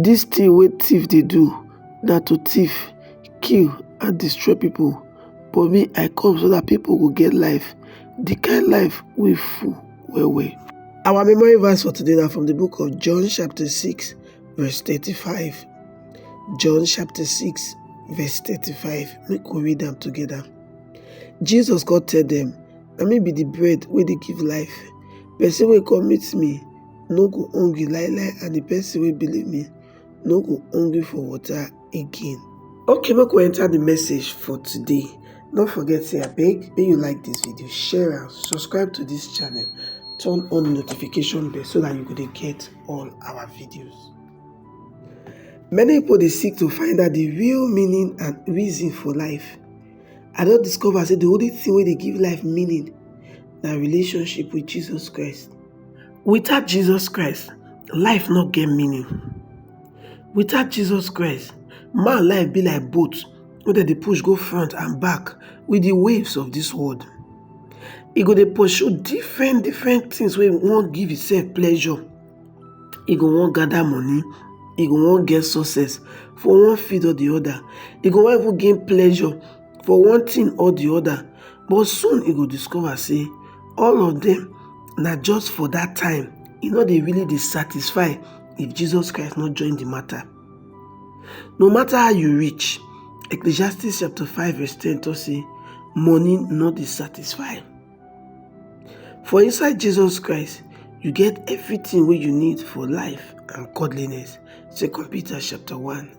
Dis thing wey thief dey do na to thief, kill and destroy people but me I come so that people go get life, the kind life wey full well well. Our memory verse for today na from the book of John chapter 6 verse 35. John chapter 6 verse 35 make we read am together. Jesus come tell them, na me be the bread wey dey give life, person wey come meet me no go hungry lie lie and the person wey believe me no go hungry for water again okay make we enter the message for today no forget say abeg make you like this video share am subscribe to this channel turn on notification bell so that you go dey get all our videos many people dey seek to find out the real meaning and reason for life i don discover say the only thing wey dey give life meaning na relationship with jesus christ Without Jesus Christ, life no get meaning. Without Jesus Christ, man life be like boat wey dem dey push go front and back with the waves of this world. E go dey pursue different different things wey wan give himself pleasure. E go wan gather money, e go wan get success for one field or the other. E go wan even gain pleasure for one tin or di oda but soon e go discover say all of dem na just for dat time e no dey really dey satisfy if Jesus Christ no join di matter. No matter how you rich, Ecclesiastes chapter 5 verse 10 tok say money no dey satisfy. For inside Jesus Christ, you get everything wey you need for life and godliness, 2 Peter chapter 1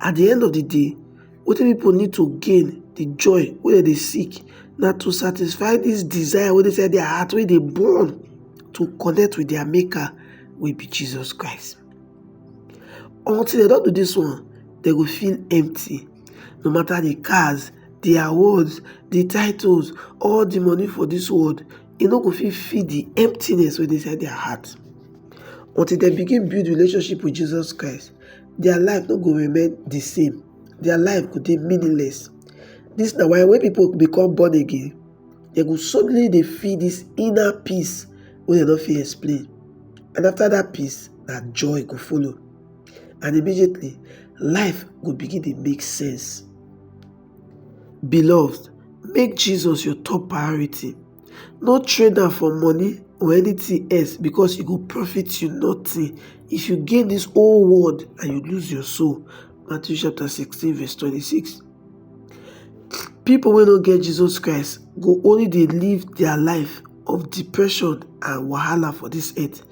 At di end of di day, wetin pipo need to gain, di joy wey dem dey seek na to satisfy dis desire wey dey inside dia heart wey dey burn to connect wit dia maker wey be Jesus Christ. Until dem don do dis one, dem go feel empty no matter di cars, di awards, di titles, all di money for dis world e no go fit fill di emptiness wey dey inside dia heart until dem begin build relationship wit Jesus Christ. dia life no go remain di same dia life go dey meaningless dis na why wen pipo become born again dem go suddenly dey feel dis inner peace wey dem no fit explain and after dat peace na joy go follow and immediately life go begin dey make sense beloved make Jesus your top priority no trade am for money or anything else because e go profit you nothing if you gain this whole world and you lose your soul. Matthew chapter 16 verse 26. People wey no get Jesus Christ go only dey live their life of depression and wahala for this earth.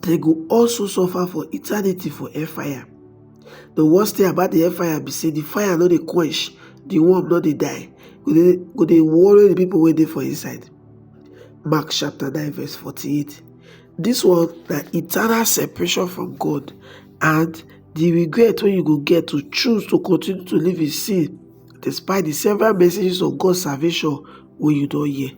They go also suffer for eternity for hellfire. The worst thing about the hellfire be say the fire no dey quench, the worm no dey die, go dey go dey worry the people wey dey for inside. Mark chapter 9 verse 48. This one na eternal separation from God and the regret wey you go get to choose to continue to live in sin despite the several messages of God's salvation wey you don hear.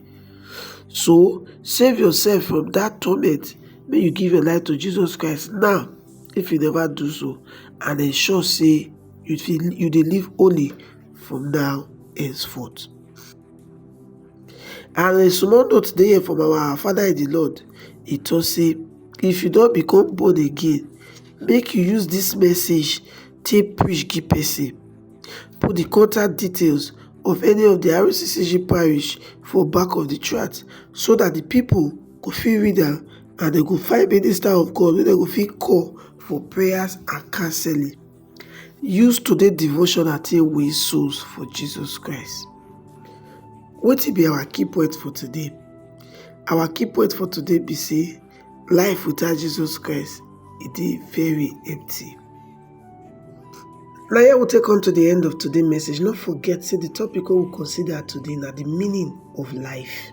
So save yourself from that torment make you give your life to Jesus Christ now if you never do so and ensure say you you dey live holy from now henceforth. And a small note dey here from our father in the Lord. He talk say if you don become born again, make you use this message take preach give person. Put the contact details of any of the RCCG parish for back of the tract so that the people go fit read am and dem go find minister of God wey dem go fit call for prayers and counseling. Use today devotional take win souls for Jesus Christ. Wetin be our key point for today? Our key point for today be say life without Jesus Christ e dey very empty. Na here we take come to the end of today message. No forget say the topic wey we consider today na the meaning of life.